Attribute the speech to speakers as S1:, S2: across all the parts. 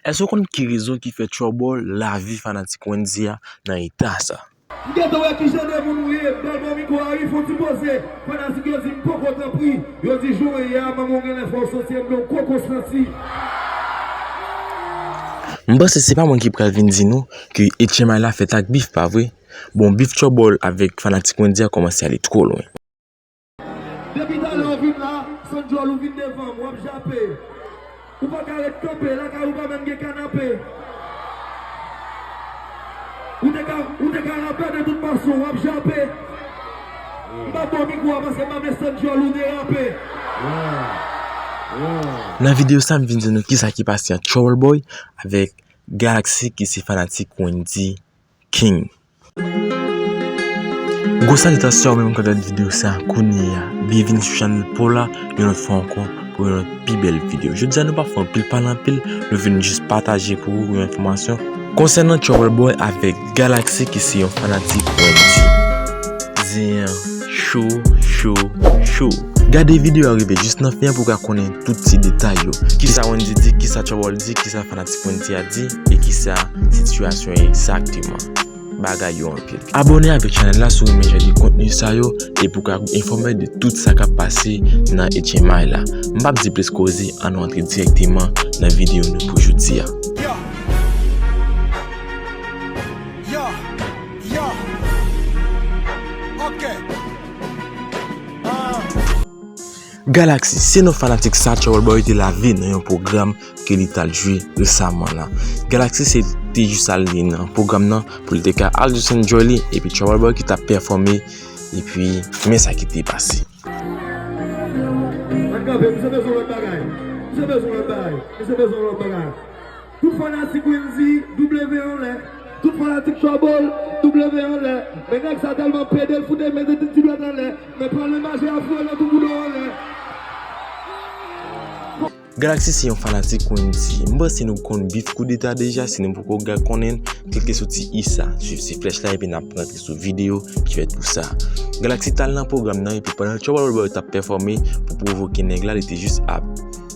S1: Èske w konn ki rezon ki fè Trouble lavi fanatik Wendyy a nan eta sa? M gentan wè kijan de moun ou ye bèl manmi kou a wi fon ti poze fanatik yo di m poko tanpri yo di jan w ye a manmi w genlè fè w santi enben w poko santi. M panse se pa mwen ki pral vin di nou ke etchenmay la fèt ak bif pa vre? Bon bif Trouble avèk fanatik Wendyy a kòmanse ale twò lwen.
S2: Depi talè ou vin la, Sandjol ou vin devan m, wap jape. Ou pa ka ret kanpe, lakay ou pa menm gen kanape. Ou te ka, ou te ka rape de tout fason, wap jape. M pa ba w mikwo a paske m pa vle Sandjol ou derape.
S1: Nan video sa m vin di nou kisa ki pase ant Troubleboy avèk Galaxy ki se fanatik Wendyy. king. Gwo salitasyon menm kap gad video sa kounyea byenvini sou chanèl paw la yon lòt fwa ankò pou yon lòt pi bèl video jodia nou pa fè anpil pale anpil nou vin jis pataje pou ou yon enfòmasyon konsènan Trouble Boy avèk Galaxy ki se yon fanatik Wendyy zen an cho cho cho gade video a rive jis nan fen an pou w ka konnen tout ti detay yo kisa Wendyy di kisa Trouble di kisa fanatik. Timounite a di e kisa sitiyasyon yo egzakteman? Bagay yo anpil. Abòne avèk chanèl la si w renmen jan de kontni sa yo epi w ka enfòme de tout sa k ap pase nan HMI la. M pap di plis koze an nou antre dirèkteman nan videyo nou pou jodi a. Galaxy, se non fanatik sa Trouble Boy te lave nan yon pwogram ke li tal jwe resaman la. Galaxy se te jis al li nan pwogram nan pou li te ka al jis enjoy li epi Trouble Boy ki tap pèfòme epi men sa ki te pase.
S2: Tout fanatik Wendy, W anlè. Tout fanatik Trouble, W anlè. Men nèg sa tèlman pede l fout 2 men 2 ti ti dwèt anlè. Men pran len maje a foure nan tou boudon anlè.
S1: Galaxy se yon fanatik Wendy. M panse nou konn bif koudeta deja, si nou poko gad konnen l, klike sou ti i sa, swiv ti flèch la epi n ap rantre sou videyo ki fèt pou sa. Galaxy t al nan pwogram nan epi pandan Trouble Boy t ap pèfòme pou pwovoke nèg la li te jis ap.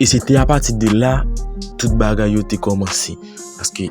S1: E se te apati de la, tout bagay yo te kòmanse. Paske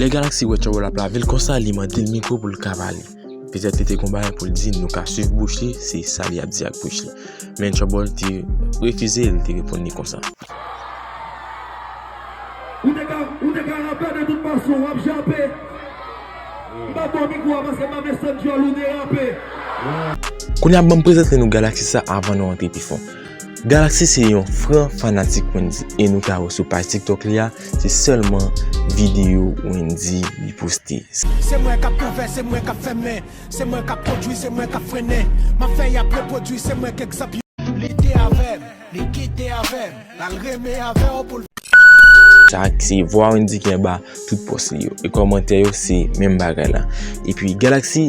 S1: Lè Galaxy wè Trouble ap lavel konsa li mandel mikro poul ka pale. Petèt li te gon bagay poul di nou ka swiv bouch li se sa li ap di ak bouch li. Men Trouble te refize li te reponn li konsa.
S2: Ou te ka ou te ka rapè de tout fason wap jape. M pap baw mikro a paske m pa vle sant dyòl ou derape.
S1: Kounya banm prezante nou Galaxy sa avan nou antre pi fon. Galaxy se yon fran fanatik Wendy e nou ka wè sou paj tiktok li a se sèlman videyo Wendy li poste. Se mwen kap
S3: ouvè se mwen kap fèmen se mwen kap pwodwi se mwen kap frennen map fè yap repwodwi se mwen k egzanp yo. Li te avèm, li kite avèm, lal renmen avèw poul vin avèw.
S1: Sa se vwa Wendy ki anba tout pòs li yo e kòmantè yo se menm bagay la epi Galaxy.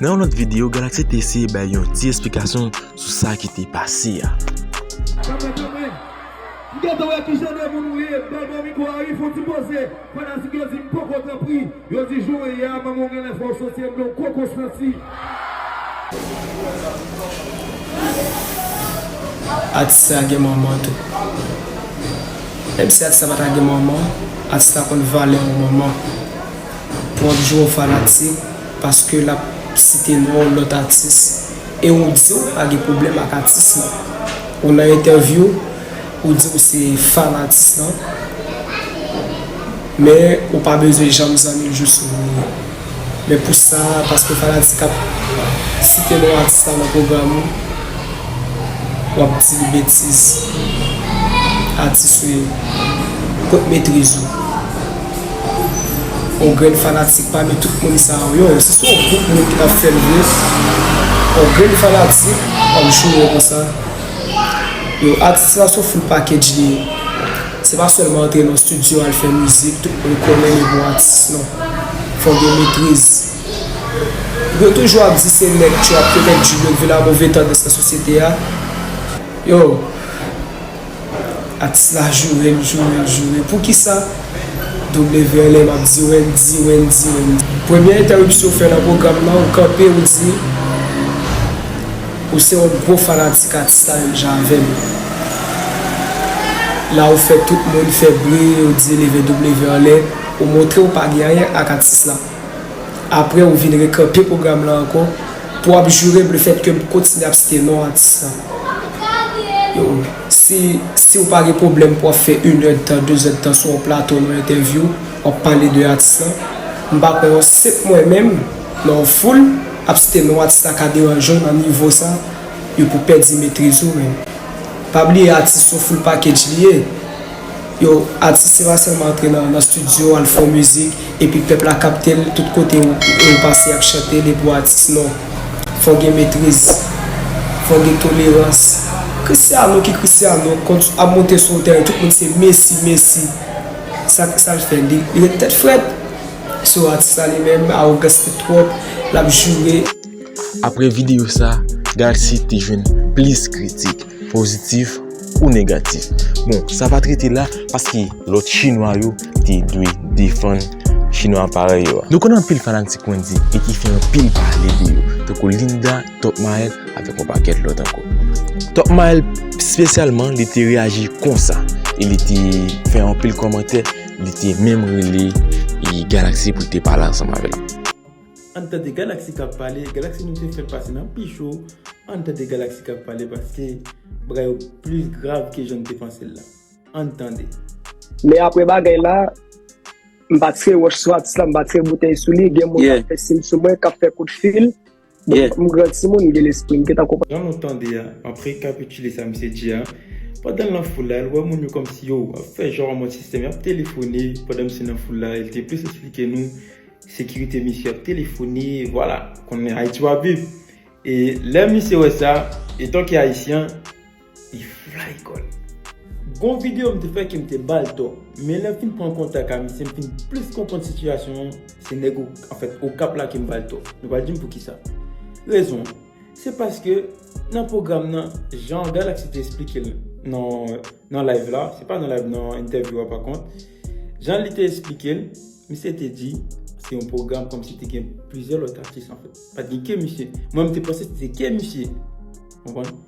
S1: Nan yon lòt videyo, Galaxy te eseye bay yon ti esplikasyon sou sa ki te pase a. Kanpe kanpe!
S2: M gentan wè ki jan de moun ou ye, bèl bon mikro a wi, fon ti poze, fanatik yo di m poko tanpri, yo di jan w ye a manman w genlè fè w santi anmde w poko santi.
S4: Atis sa gen manman tou. Menm si atis la pa ta gen manman, atis la konn valè yon manman. Wap jwe w fanatik paske lap site non lòt atis e ou di ou pa gen pwoblèm ak atis lan. Ou nan entèvyou ou di ou se fan atis lan men ou pa bezwen janm zanmi l jous ou ri. Men pou sa paske fanatik ap site non atis la nan pwogram ou wap di li betiz. Atis ou ye. Kot metriz ou? On grenn fanatik pami tout moun sa ou yo si son gwoup moun ki tap fèl vre on grenn fanatik ap joure konsa yo atis la son full package li ye se pa sèlman antre nan studio al fè mizik tout moun konnen li bon atis non fòk gen metriz yo toujou ap di se nèg trap yo nèg drill yo ki vin a move tandans nan sosyete a yo. Atis la joure l joure l joure poukisa WLM ap di Wendy Wendy Wendy. Premye entèripsyon ou fè nan pwogram lan ou kanpe ou di ou se yon gwo fanatik atis la menm jan avè m la ou fè tout moun fè bri yo di leve W anlè ou montre ou pa gen anyen ak atis la. aprè ou vin rekanpe pwogram lan ankò pou w ap jure m le fèt ke m kontinye ap site non atis la yo si si ou pa gen pwoblèm pou w ap fè inèdtan dezèdtan sou yon plato nan yon entèvyou w ap pale de atis lan m pa kwè yon senp mwen menm nan yon foul ap site non atis la ka deranje w nan nivo sa yo pou pèdi metriz ou menm pa bliye atis son full package li ye. Yo atis se pa selman antre nan studio al fè yon mizik epi pèp la kaptel tout kote ou pase yap chantel epi ou atis non fòk gen metriz fòk gen tolerans Christiano ki Christiano ap monte sou yon tèren tout moun se Messi Messi sak sal fè li ret tèt frèt sou atis la li menm arogans li twòp lap joure. Apre
S1: videyo sa, gad si te jwenn plis kritik, pozitif ou negatif. Bon, sa pa t rete la, paske lòt Chinwa yo te dwe defann Chinwa parèy yo. Nou konn anpil fanatik Wendy e ki fè anpil pale de yo, tankou Linda, Top Mael avèk yon pakèt lòt ankò. Top Mael spesyalman li te reyaji konsa e li te fè anpil kòmantè, li te menm rele Galaxy pou l te pale ansanm avè l. Ann tande
S5: galaxy kap pale galaxy nou te fèl pase nan pi cho ann tande galaxy kap pale paske bagay yo plis grav ke janm te pansel la ann tande. Men
S4: apre bagay la m pa tire wòch sou atis la m pa tire boutèy sou li gen moun kap fè sim sou mwen kap fè kout fil m gran timoun m gen lespri m gentan konprann. Jan nou tande a map
S5: rekapitile sa misye di a pandanl nan foul la el wè moun yo kòmsi yo ap fè jan yo an mòd sistèm yap telefone pandan misye nan foul la el te plis esplike nou Sekirite misye ap telefone vwala konnen Ayiti wap viv e lè misye wè sa etan ke ayisyen li fly kòl. Gon video m te fè ke m te bal tò men lèm fin pran kontak a misye m fin plis konprann sitiyasyon an se nèg anfèt okap la ke m bal tò nou pral dim poukisa rezon an se paske nan pwogram nan jan Galaxy te esplike l nan nan live la se pa nan live nan entèvyou a pa kont jan li te esplike l Misye te di se yon pwogram kòmsi te gen plizyè lòt atis anfèt. Pa t gen ke misye. Mwen m te panse se te ke misye. Ou konprann?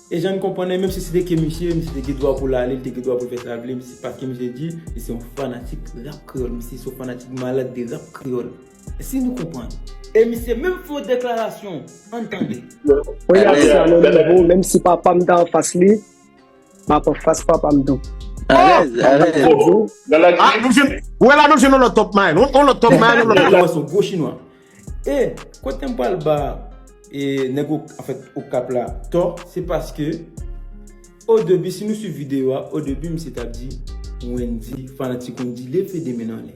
S5: E jan n konprann li, menmsi se te ke misye, misye te gen dwa pou l ale, li te gen dwa pou l fè sa l vle. Misye pa ke misye di, li se yon fanatik rap kreyòl. Misye se yon fanatik malad de rap kreyòl. Èske nou konprann? E misye menm fè yon deklarasyon. Ann tande. Mwen
S4: ap sa nan nivo menmsi papa m ta anfas li. Map an fas papa m tou.
S6: Alèz, alèz. Ah nou
S3: jwenn, ou wè la nou jwenn yon lòt Top Mind, yon lòt Top Mind, yon lòt Top Mind. Son gwo chinwa.
S5: E kote m pral ba nèg Okap, anfèt Okap la tò, se paske o debi si nou swiv videyo a, o debi misye tap di Wendyy fanatik Wendyy leve 2 men anlè.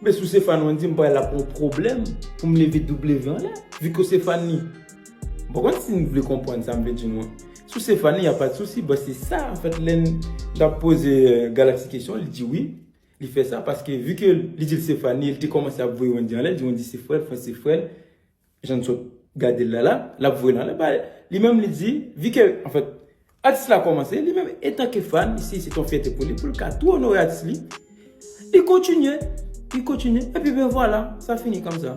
S5: Men sou se fan wendy m pral ap yon pwoblèm pou m leve w anlè vu ke se fan li m pa konn si n vle konprann sa m vle di nou an sou se fan li y a pat sousi bon se sa an fèt lè n t ap poze galaxy kesyon li di wi li fè sa paske vu ke li di l se fan li e li te kòmanse ap voye wendy anlè di wendy se frè l fans se frè l Jan n sot gade l la la, l ap voye nan lè pa l. Li menm li di, vi ke, an fèt, atis la kòmanse, li menm etanke fan, li si se t yon fyète pou li, pou l ka tou onore atis li, li kontinye, li kontinye, epi byen vwala, sa fini kòmsa.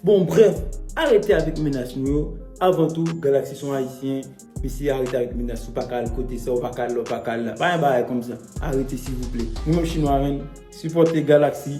S5: Bon brèf, arete avèk menas nou yo, avan tou, Galaxy s on Ayisyen, mesye arete avèk menas, ou pa ka al kote sa, ou pa ka al la, ou pa ka al la, pa gen bagay kòmsa, arete silvouplè. Nou menm chinwa menm, sipòte Galaxy.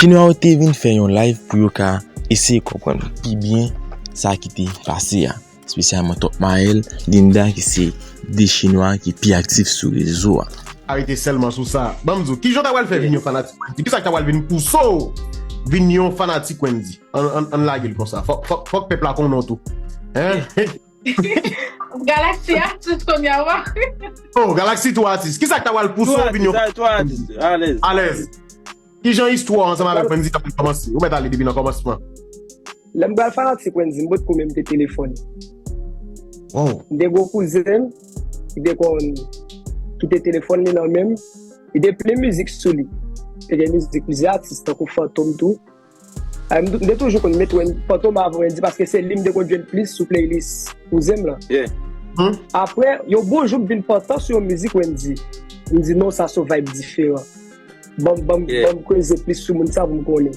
S3: Chinwa
S1: yo te vin fè yon live pou yo ka eseye konprann pi byen sa ki te pase a. Spesyalman Top Mael, Linda ki se 2 chinwa ki pi aktif sou rezo a. Arete selman
S6: sou sa. Banm di w kijan w ta pral fè vin yon fanatik Wendy? Kisa ki ta pral vin pouse w vin yon fanatik Wendy? Ann lage l konsa. Fòk pèp la konnen w tou.
S7: Galaxy atis kon ya wa. Oh,
S6: Galaxy 3 atis. Ki sa k ta wal pouse w vin yon. 3 atis, 3 atis. Alèz.
S5: Alèz.
S6: Ki jan istwa ansanm avèk Wendy ta pral kòmanse? Ou mèt ale depi nan kòmansman. Lè m
S4: pral fanatik Wendy, m pot ko menm te telefone.
S6: Wow. M te gen yon kouzen
S4: m ki te konn kite telefòn li nan men m. Li te plen mizik sou li. Te gen mizik plizyè atis tankou Fantom tou. M te toujou konn met Wendy Fantom avan Wendy paske se li m te konn jwenn plis sou playlist kouzen m lan.
S5: Aprè,
S4: yon bon jou m vin pantan sou yon mizik Wendy. M di non sa son vibe diferan. Banm kreze plis sou moun sa pou m konnen.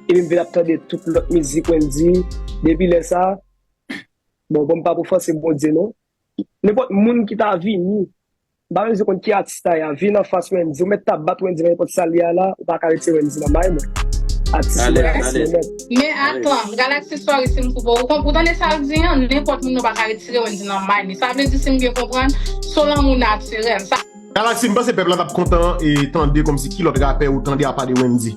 S4: Epi m vin ap tande tout lòt mizik Wendy. Depi lè sa, bon banm pa pou fòse Bondye non. Nenpòt moun ki ta vini Bayo di konn ki atis la ya vin anfas wendy ou mèt ta bat wendy nan nenpòt sal ye a la ou paka rete wendy nan may mwen atis mwen atis mwen mèt.
S7: Men atanm, Galaxy sorry sim koupe w, ou tande sal di an, nenpòt moun yo paka retire Wendy nan may li, sa vle di sim byen konprann, son lanmou natirèl, sa. Galaxy, m
S6: panse pèp la tap kontan tande kòmsi ki lòt rapè ou tande apa de Wendy?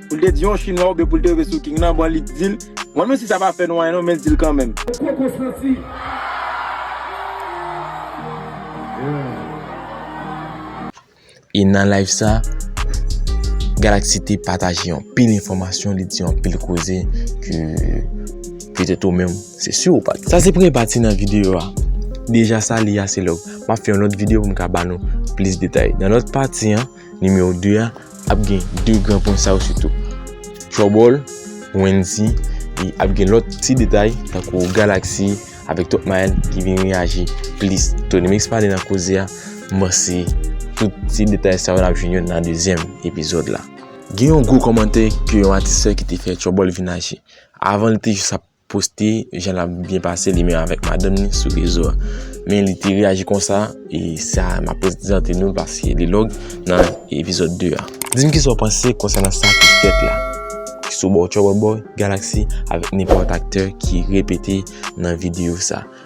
S8: Pou l te di yon chinwa oubyen pou l te rive sou king nan bon li t dil mwen menm si sa pa fè nou anyen non men l dil kanmenm. Ou poko santi.
S1: E nan live sa Galaxy te pataje anpil enfòmasyon li di anpil koze ke petèt ou menm se si ou pat. Sa se premye pati nan videyo a. Deja sa li a se lòk. Map fè yon lòt videyo pou m ka ba nou plis detay. Nan lòt pati an. Nimewo 2 a ap gen 2 gran pwen sa yo sitou. Trouble, Wendy, e ap gen lòt ti detay tankou Galaxy avèk Top Mael ki vin reyaji plis. Tony Mix pale nan koze a, mèsi tout ti detay sa yo ap jwenn yo nan dezyèm epizòd la. Gen yon gwo kòmantè ke yon atis fè ki te fè Trouble vin aji. Avan li te jis ap poste jan lap byen pase li menm avèk madanm ni sou rezo a men li te reyaji konsa e sa ma prezante nou paske li log nan epizod 2 a di m kisa w panse konsènan sa ki fèt la ki sou bò Troubleboy, Galaxy avèk nenpòt aktè ki repete nan videyo sa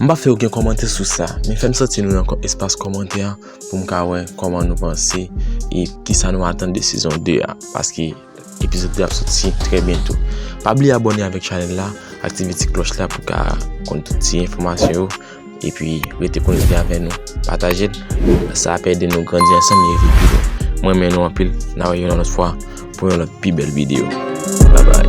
S1: M pa fè oken kòmantè sou sa, men fè m santi nou nan espas kòmantè a pou m ka wè kòman nou panse e kisa nou atann de sezon 2 a. Paske. Epizod 2 ap soti trè byento. Pa bliye abone avèk chanèl la, aktive ti klòch la pou ka konn tout ti enfòmasyon yo epi rete konekte avè nou. Pataje l, sa ap ede nou grandi ansanm e viv pi lwen. M renmen nou anpil, n a wè yon lòt fwa pou yon lòt pi bèl videyo. Bye bye.